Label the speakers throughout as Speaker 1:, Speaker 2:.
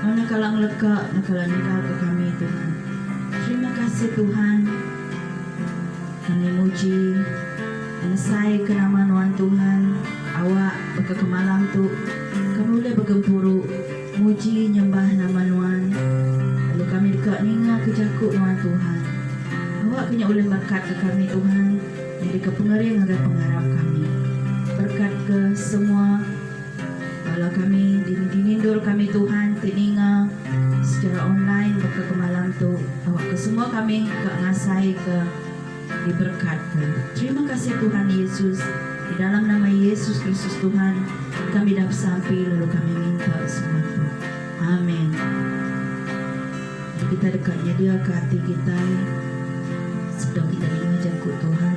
Speaker 1: Mana kala ngeleka mu kala ninggal ke kami Tuhan. Terima kasih Tuhan. Kami muji ngesai ke nama nuan Tuhan awak baka ke malam tu kami ulih begempuru muji nyembah nama nuan lalu kami deka ninga ke jaku nuan Tuhan. Awak ke nya ulih merekat ke kami Tuhan nyadi ke pengering ngagai pengarap kami. Berkat ke semua. Bala kami dini dinindul kami Tuhan ti ninga secara online baka ke malam tu awak ke semua kami ka ngasai ke diberkat ka terima kasih Tuhan Yesus di dalam nama Yesus Kristus Tuhan kami dah besampi lalu kami minta semua tu Amen mari kita deka nyedia ka ati kitai sebedau kita ninga jaku Tuhan.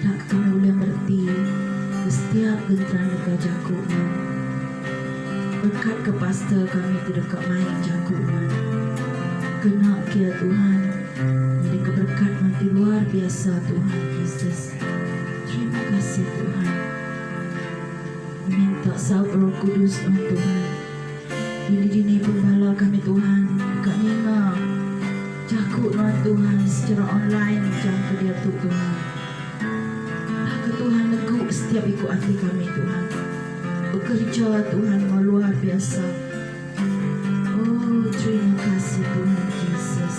Speaker 1: Enda kala ulih mereti ke setiap genteran deka jaku nuan. Berkat ke pastor kami tu deka main jaku nuan. Kena kia Tuhan nyadi ke berkat nuan ti luar biasa Tuhan Jesus. Terima kasih Tuhan. Ngeminta saup roh kudus nuan Tuhan. Dini-dini pengembala kami Tuhan deka ninga. Jaku nuan Tuhan secara online jam ke diatu Tuhan. Baka Tuhan negu setiap iku ati kami Tuhan. Bekerja Tuhan enggau luar biasa. Oh terima kasih Tuhan Jesus.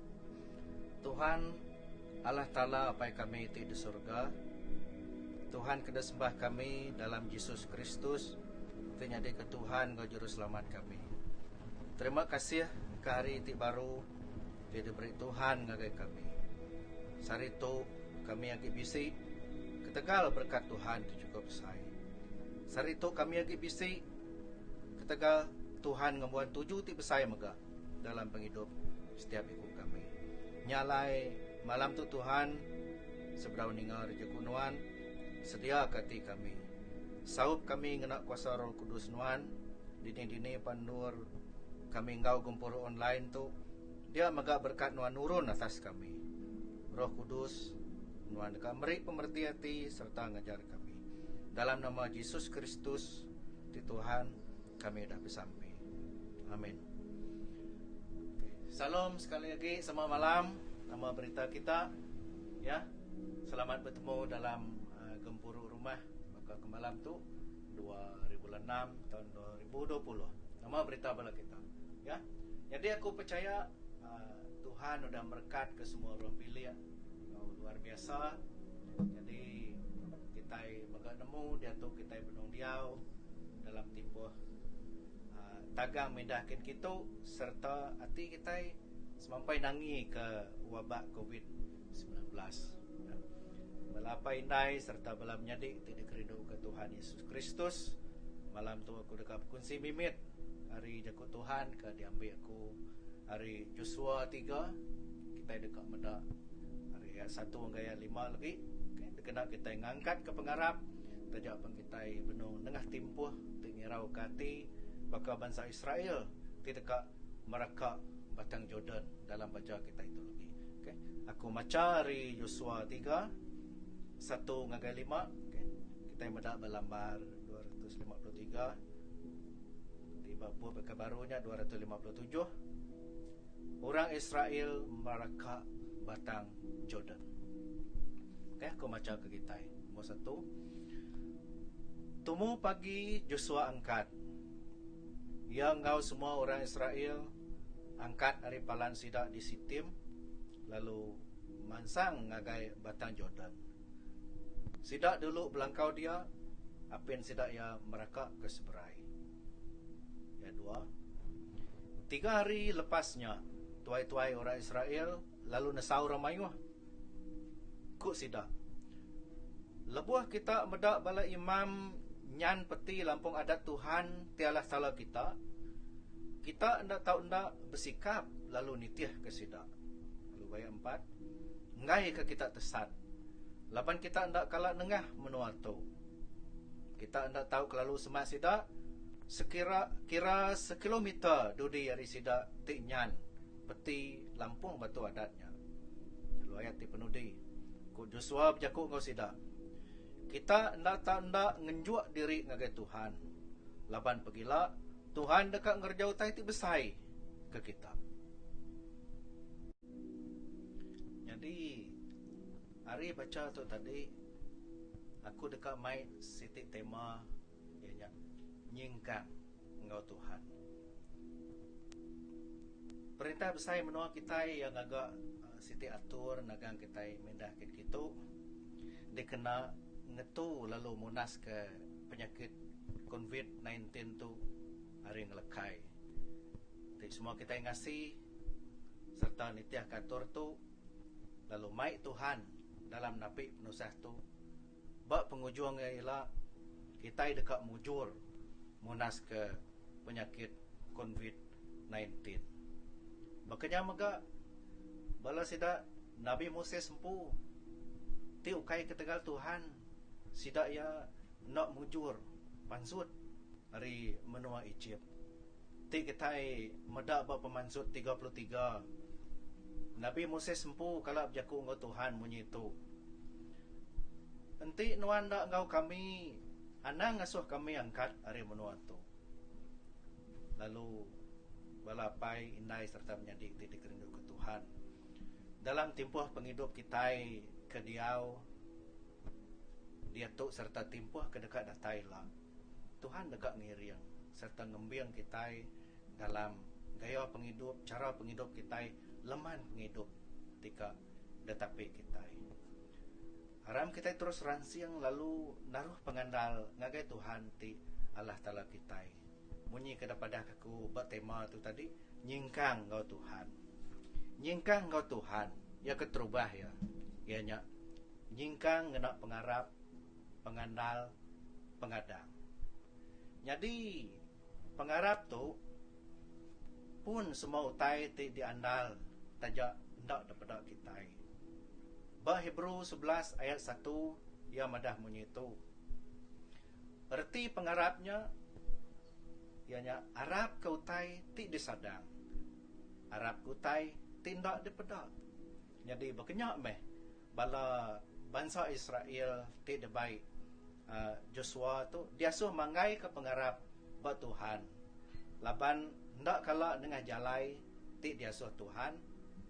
Speaker 1: Tuhan, Allah Taala Apai kami ti di surga, Tuhan ke disembah kami dalam Jesus Kristus ke nyadika Tuhan enggau Juruselamat kami. Terima kasih ke hari ti baru ti diberi Tuhan ngagai kami. Sehari tu kami agi bisi ketegal berkat Tuhan ti chukup besai. Sehari tu kami agi bisi ketegal Tuhan ngembuan tuju ti besai mega. dalam pengidup setiap iku kami. Nya alai, malam tu Tuhan, sebedau ninga rejeku Nuan, sediaka ati kami. Saup kami ngena kuasa Roh Kudus Nuan, dini-dini pan endur kami enggau gempuru online tu, dia mega berekat Nuan nurun atas kami. Roh Kudus, Nuan deka meri pemereti ati sereta ngajar kami. Dalam nama Jesus Kristus ti Tuhan, Kami udah besampi. Amin. Salom sekali agi sema malam nama berita kita ya. Selamat betemu dalam uh, gempuru rumah baka ke malam tu 2006 tahun 2020. Nama berita bala kita ya. Jadi aku percaya uh, Tuhan udah merekat ke semua orang pilih Enggau luar biasa. Nyadi kitai mega nemu diatu kitai benung diau dalam timpuh tagang mindah kin kitu sereta ati kitai semampai nangi ke wabak covid semilan belas. Bala apai indai sereta bala menyadi ti dikerinduka Tuhan Yesus Kristus, malam tu aku deka bekunsi mimit ari Jaku Tuhan ke diambi aku. Ari Josua tiga, kitai deka meda ari ayat satu enggau ayat lima legi, okay, dikena kitai ngangkatka pengarap taja pen kitai benung nengah timpuh ti nyerauka ati baka bansa Israel ti deka mereka Batang Jordan dalam baja kitai tu legi. Okay. Aku macha ari Josua tiga, Satu ngagai lima. Kitai meda ba lambar dua ratus lima puluh tiga ti ba bup Baka Baru nya dua ratus lima puluh tujuh, orang Israel meraka Batang Jordan. Ok, aku machaka kitai. Nombor satu, Tumu pagi Josua angkat. Iya enggau semua orang Israel angkat ari palan sida di Sitim lalu mansang ngagai Batang Jordan. Sida dulu belangkau dia, apin sida iya meraka ke seberai. Ya dua. Tiga hari lepas nya, tuai-tuai orang Israel Lalu nesau orang mayuh. Ku sida, Lebuh kita meda bala imam nyan peti lampung adat Tuhan ti alah sala kita, kita enda tau enda besikap lalu nitihka sida. Lalu ayat empat, Enggaika kita tesat, laban kita enda kala nengah menua tu. Kita enda tau kelalu semak sida, sekira kira sekilometer dudi ari sida ti nyan. Peti lampung batu adat nya lalu ayat ti penudi, Ku Josua bejaku enggau sida, Kita enda tau enda ngenjuk diri ngagai Tuhan, laban pegila Tuhan deka ngereja utai ti besai ke kita. Nyadi ari bacha tu tadi aku deka mai siti tema. Iya nya nyingkang enggau Tuhan. Perintah besai menua kitai iya ngaga siti atur nagang kitai mindah kin kitu dikena ngetu lalu munaska penyakit Konvit nineteen tu ari ngelekai. Ti semua kitai ngasi sereta nitihka atur tu lalu mai Tuhan dalam napi penusah tu. Ba pengujung iya ila, kitai deka mujur munaska penyakit Konvit Nineteen. Baka nya mega, bala sida nabi Moses empu ti ukai ketegal Tuhan sida iya enda mujur pansut ari menua Ejip. Ti kitai meda ba Pemansut tiga puluh tiga, Nabi Moses empu kala bejaku enggau Tuhan munyi tu, Enti nuan enda enggau kami, anang ngasuh kami angkat ari menua tu. Lalu, bala apai, indai sereta menyadi ti dikerinduka Tuhan dalam timpuh pengidup kitai ke diau diatu sereta timpuh ke deka datai ila, Tuhan deka ngiring sereta ngembing kitai dalam gaya pengidup, chara pengidup kitai leman pengidup ti ka ditapi kitai. Aram kitai terus ransing lalu naruh pengandal ngagai Tuhan ti Allah Taala kitai. Munyi ke dipadahka aku ba tema tu tadi, Nyingkang enggau Tuhan. Nyingkang enggau Tuhan, iya keterubah iya, iya nya nyingkang ngena pengarap, pengandal pengadang. Nyadi pengarap tu pun semua utai ti diandal taja enda dipeda kitai. Ba Hebrew sebelas ayat satu iya madah munyi tu. Reti pengarap nya iya nya arap ke utai ti disadang, arap ke utai ti enda dipeda. Nyadi baka nya meh Bala bansa Israel ti dibai Josua tu diasuh manggaika pengarap ba Tuhan laban enda kala nengah jalai ti diasuh Tuhan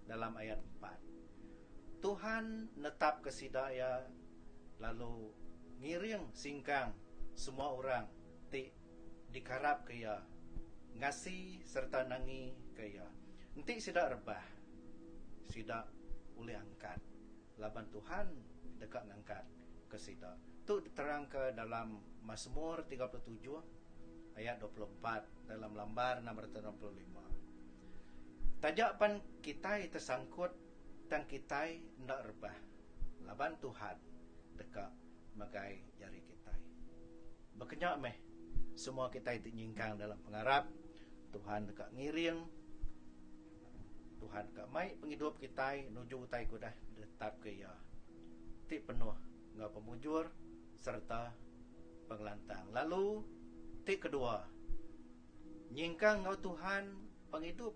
Speaker 1: dalam ayat empat. Tuhan netapka sida iya lalu ngiring singkang semua orang ti Dikarapka iya ngasi sereta nangika iya. Enti sida rebah, sida ulih angkat laban Tuhan deka ngangkat ke sida. Tu diterangka dalam Masmur tiga puluh tujuh ayat dua puluh empat dalam lambar enam ratus enam puluh lima. Taja pan kitai tesangkut Tang kitai enda rebah laban Tuhan deka megai jari kitai. Bakanya meh, semua kitai ti nyingkang dalam pengarap Tuhan deka ngiring, Tuhan deka mai pengidup kitai nuju utai ke udah ditetapka Iya ti penuh enggau pemujur sereta pengelantang. Lalu ti kedua, nyingkang enggau Tuhan. Pengidup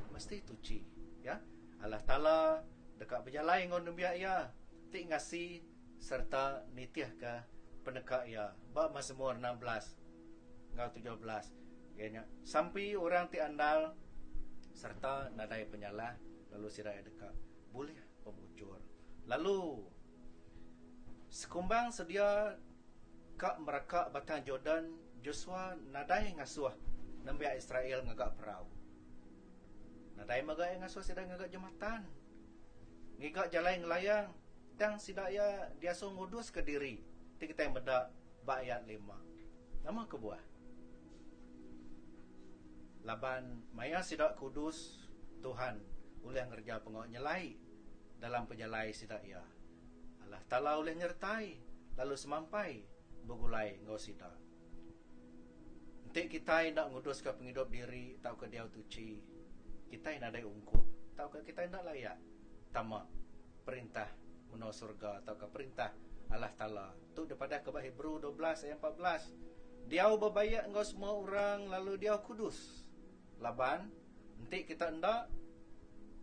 Speaker 1: mesti tuchi, ya. Allah Taala deka bejalai enggau nembiak Iya ti ngasi sereta nitihka peneka Iya. Ba Mazmur enam belas enggau tujuh belas, iya nya, Sampi orang ti andal sereta nadai penyalah, lalu sida iya deka bulih pemujur. Lalu, sekumbang sedia Ka meraka Batang Jordan, Josua nadai ngasuh nembiak Israel ngaga perau. Nadai mega iya ngasuh sida ngaga jematan, ngiga jalai ngelayang, tang sida iya diasuh nguduska diri, ti kitai meda ba ayat lima. Nama kebuah? Laban maya sida kudus, Tuhan ulih ngereja pengawa nyelai dalam pejalai sida iya. Allah Taala ulih nyertai lalu semampai begulai enggau sida. Enti kitai enda nguduska pengidup diri tauka diau tuchi, kitai nadai ungkup tauka kitai enda layak tama Perintah menua surga tauka Perintah Allah Taala. Tu dipadahka ba Hebrew dua belas ayat empat belas, Diau bebayak enggau semua orang lalu diau kudus, laban. Enti kita enda,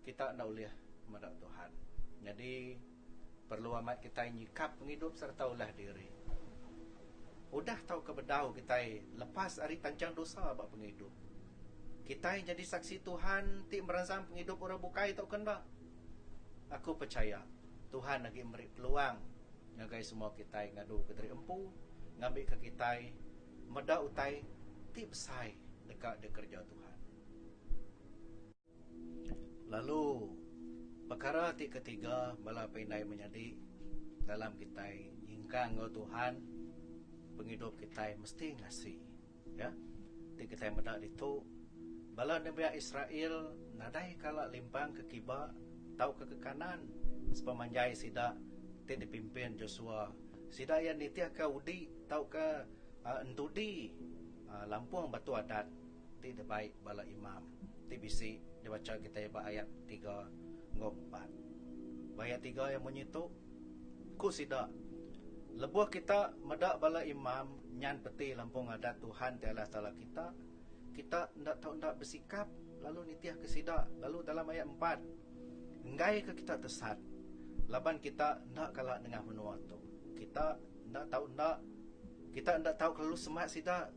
Speaker 1: kita enda ulih meda Tuhan. Nyadi, perlu amat kitai nyikap pengidup sereta ulah diri. Udah tauka bedau kitai lepas ari panjang dosa ba pengidup. Kitai nyadi Saksi Tuhan ti meransang pengidup orang bukai tauka enda? Aku pechaya, Tuhan agi meri peluang ngagai semua kitai ngadu ke diri empu ngambika kitai meda utai ti besai deka dikereja Tuhan. Lalu, pekara ti ketiga bala pe indai menyadi dalam kitai nyingkang enggau Tuhan, pengidup kitai mesti ngasi. Ya. Ti kitai meda ditu, bala nembiak Israel nadai kala limpang ke kiba tauka ke kanan sepemanjai sida ti dipimpin Josua. Sida iya nitihka udi tauka entudi lampung Batu Adat. Ti dibai bala imam ti bisi dibacha kitai ba ayat tiga enggau empat. Ba ayat tiga iya munyi tu, Ku sida, Lebuh kita meda bala imam nyan peti lampung adat Tuhan ti Allah Taala kita, kita enda tau enda besikap lalu nitihka sida lalu dalam ayat empat, enggaika kita tesat laban kita enda kala nengah menua tu. Kita. Enda tau enda. Kita enda tau kelalu semak sida.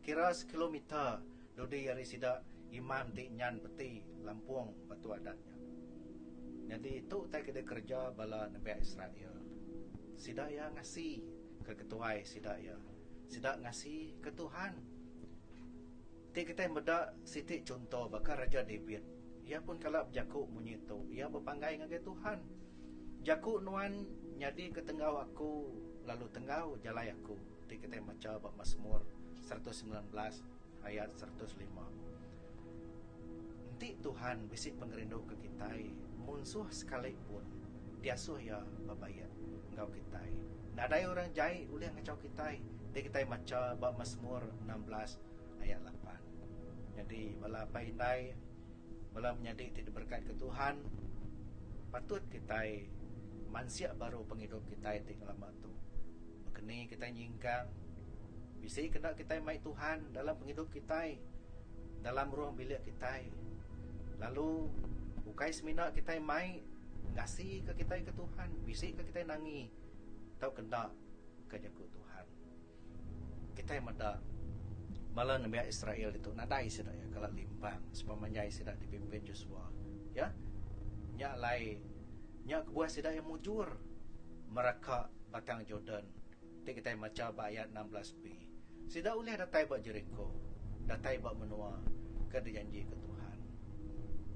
Speaker 1: Kira sekilometer dudi ari sida imam ti nyan peti lampung batu adat nya. Nyadi tu utai ke dikereja bala nembiak Israel. Sida iya ngasi ke ketuai sida iya. Sida ngasi ke Tuhan. Ti kitai meda siti chunto baka Raja David. Iya pun kala bejaku munyi tu. Iya bepanggai ngagai Tuhan, Jaku Nuan nyadika tenggau aku lalu tenggau jalai aku, ti kitai macha ba Masmur seratus semilan belas ayat seratus lima. Enti Tuhan bisi pengerindu ke kitai, munsuh sekali pun diasuh Iya bebaik enggau kitai. Nadai orang jai ulih ngachau kitai, ti kitai macha ba Masmur enam belas Ayat lapan. Nyadi, bala apai indai, bala menyadi ti diberekatka Tuhan, patut kitai mansik baru pengidup kitai ti ngelama tu. Baka ni kitai nyingkang bisi kena kitai mai Tuhan dalam pengidup kitai, dalam ruang bilik kitai, lalu ukai semina kitai mai ngasika kitai ke Tuhan, bisi ke kitai nangi tauka enda ke jaku Tuhan. Kitai meda, bala nembiak Israel ditu nadai sida iya kala limpang sepemanjai sida dipimpin Josua, iya nya alai nya kebuah sida iya mujur mereka Batang Jordan ti kitai macha ba ayat enam belas-B. Sida ulih datai ba Jeriko, datai ba menua ke dijanjika Tuhan.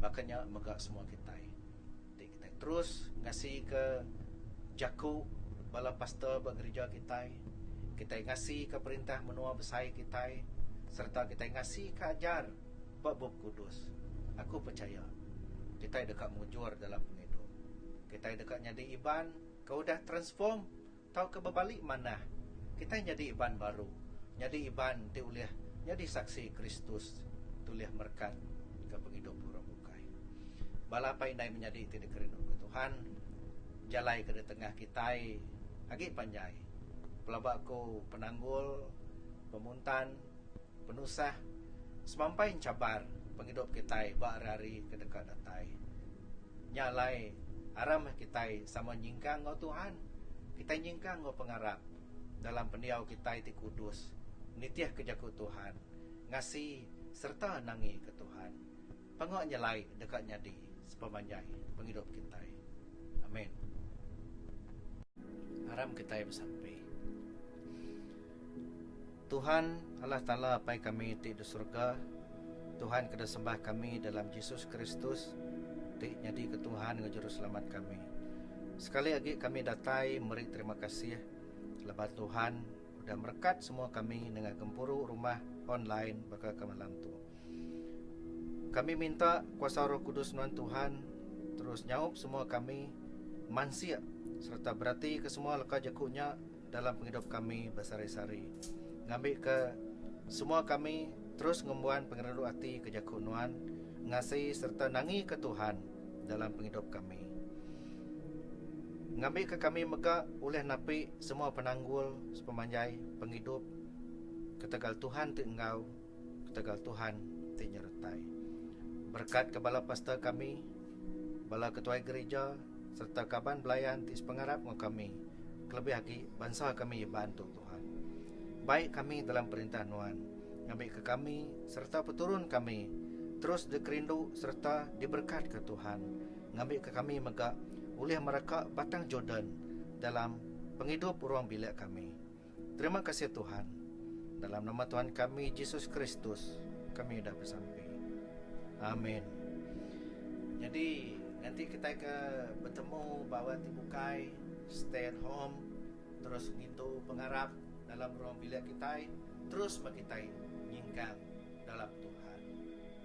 Speaker 1: Baka nya mega semua kitai Kitai terus ngasika jaku bala pastor ba gerija kitai. Kitai ngasika perintah menua besai kitai sereta kitai ngasika ajar ba Bup Kudus. Aku pechaya kitai deka mujur dalam pengidup. Kitai deka nyadi Iban ke udah transform Tauka bebali manah, kitai nyadi iban baru, nyadi iban ti ulih nyadi saksi Kristus ti ulih merekat ke pengidup orang bukai. Bala apai indai menyadi ti dikerinduka Tuhan, jalai ke di tengah kitai agi panjai. Pelaba ku penanggul, pemuntan. Penusah, Semampai enchabar pengidup kitai ba hari-hari ke deka datai. Nya alai, aram meh kitai sama nyingkang enggau Tuhan. Kitai nyingkang enggau pengarap dalam pendiau kitai ti kudus, nitihka jaku Tuhan, ngasi sereta nangika Tuhan. Panga nyelai deka nyadi sepemanjai pengidup kitai. Amin. Aram kitai besampi. Tuhan, Allah Taala Apai kami ti di surga, Tuhan ke disembah kami dalam Jesus Kristus ti nyadika Tuhan enggau Juruselamat kami. Sekali agi kami datai meri terima kasih laban Tuhan udah merekat semua kami nengah gempuru rumah online baka ke malam tu. Kami minta kuasa Roh Kudus nuan Tuhan terus nyaup semua kami mansik sereta berati ke semua leka jaku nya dalam pengidup kami besehari-sehari, ngambika semua kami terus ngembuan pengerindu ati ke jaku Nuan, ngasihi sereta nangika Tuhan dalam pengidup kami. Ngambika kami mega ulih napi semua penanggul sepemanjai pengidup ketegal Tuhan ti enggau. Ketegal Tuhan ti nyertai. Berekat ke bala pastor kami, bala ketuai gerija sereta kaban belayan ti sepengarap enggau kami kelebih agi bansa kami Iban tu Tuhan. Bai kami dalam perintah Nuan ngambika kami sereta peturun kami terus dikerindu sereta diberekatka Tuhan ngambika kami mega ulih mereka Batang Jordan dalam pengidup ruang bilik kami. Terima kasih Tuhan. Dalam nama Tuhan kami Jesus Kristus kami udah bersampi. Amin. Jadi nanti kita ke bertemu bawa ti bukai stay at home terus ngintu pengarap dalam ruang bilik kita terus bagi kita nyingkang dalam Tuhan.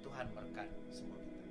Speaker 1: Tuhan berkat semua kita.